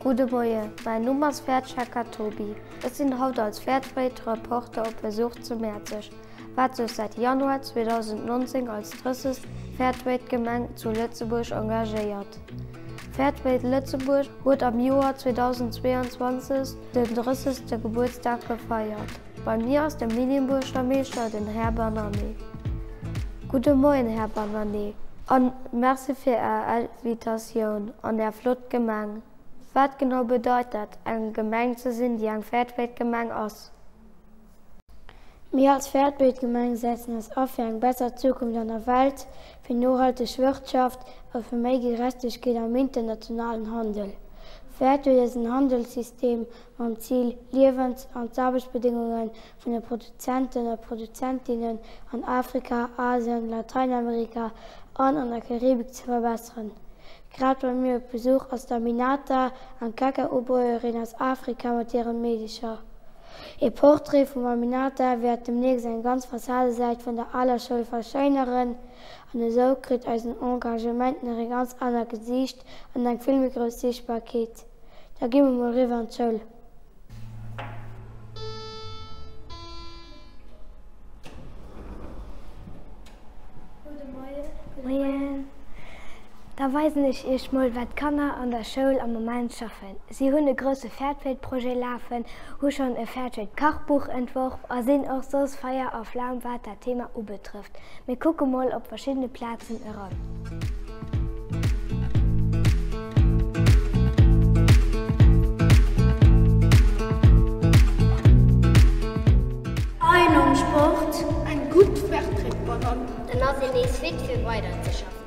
Gudde Moie, mäin Numm ass Wäertschecker Toby. Ech sinn haut als Fairdtrade-Reporter op Besuch zu Mäerzeg, wat sech säit Januar 2019 als drëssegst Fairtrade-Gemeng zu Lëtzebuerg engagéiert. Fairtrade Lëtzebuerg huet am Joer 2022 den drëssegste Gebuertsdag gefeiert. Bei mir ass de Medienbuergermeeschter, den Här Bannane. Gudde Moien, Här Bannane, a Merci fir Är Invitatioun an Är flott Gemeng. Wat genau bedeit dat, eng Gemeng ze sinn, déi eng Fairtrade-Gemeng ass? Mir als Fairtrade-Gemeng setzen eis a fir eng besser Zukunft an der Welt, fir nohalteg Wirtschaft a fir méi Gerechtegkeet am internationalen Handel. Fairtrade ass en Handelssystem, mam Zil, d'Liewens an d'Aarbechtsbedéngunge vun de Produzenten a Produzentinnen an Afrika, Asien, Lateinamerika an an der Karibik ze verbesseren. Grad bei mir op Besuch ass d'Aminata, eng Kakaobäuerin aus Afrika mat hiren Meedecher. E Portrait vum Aminata wäert demnächst eng ganz Fassadesäit vun der aler Schoul verschéineren an esou kritt eisen Engagement nach e ganz anert Gesiicht an eng vill méi grouss Siichtbarkeet. Da gi mer mol riwwer an d'Schoul. Moien. Da weisen ech iech mol, wat d'Kanner an der Schoul am Moment schaffen. Si hunn e grousse Fairtrade-Projet lafen, hu schonn e Fairtrade-Kachbuch entworf a sinn och soss Feier a Flam, wat dat Thema ubetrëfft. Mir kucke mol op verschiddene Plazen eran. Ein am Sport. Eng gutt Vertreet beim Mann. En ass een nees fit fir weider ze schaffen.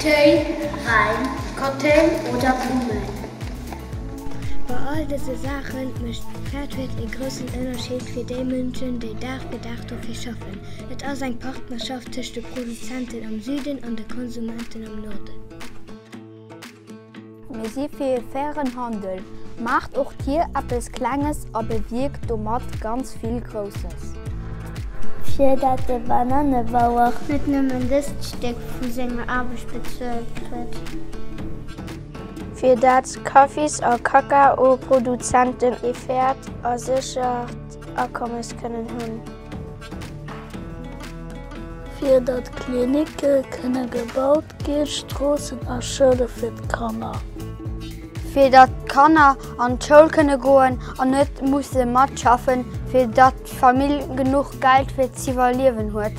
Téi, Wäin, Cocktail oder Blummen. Bei all dëse Saache mécht Fairtrade ee groussen Ënnerscheed fir déi Mënschen, déi Dag fir Dag dofir schaffen. Et ass eng Partnerschaft tëscht de Produzenten am Süden an de Konsumenten am Norden. Mir si fir ee fairen Handel. Maacht och Dir eppes Klenges a bewierkt domat ganz vill Grousses. Fir datt de Banannebauer net nëmmen dëst Stéck vu senger Aarbecht bezuelt kritt. Fir datt Kaffis a Kakaoproduzenten ee fairt a séchert. Akommes kënnen hunn. Fir datt Klinicke kënne gebaut ginn, Stroossen a Schoule fir d'Kanner. Fir datt d'Kanner an d'Schoul kënne goen an net musse matschaffen, fir datt d'Famill genuch Geld fir z'iwwerliewen huet.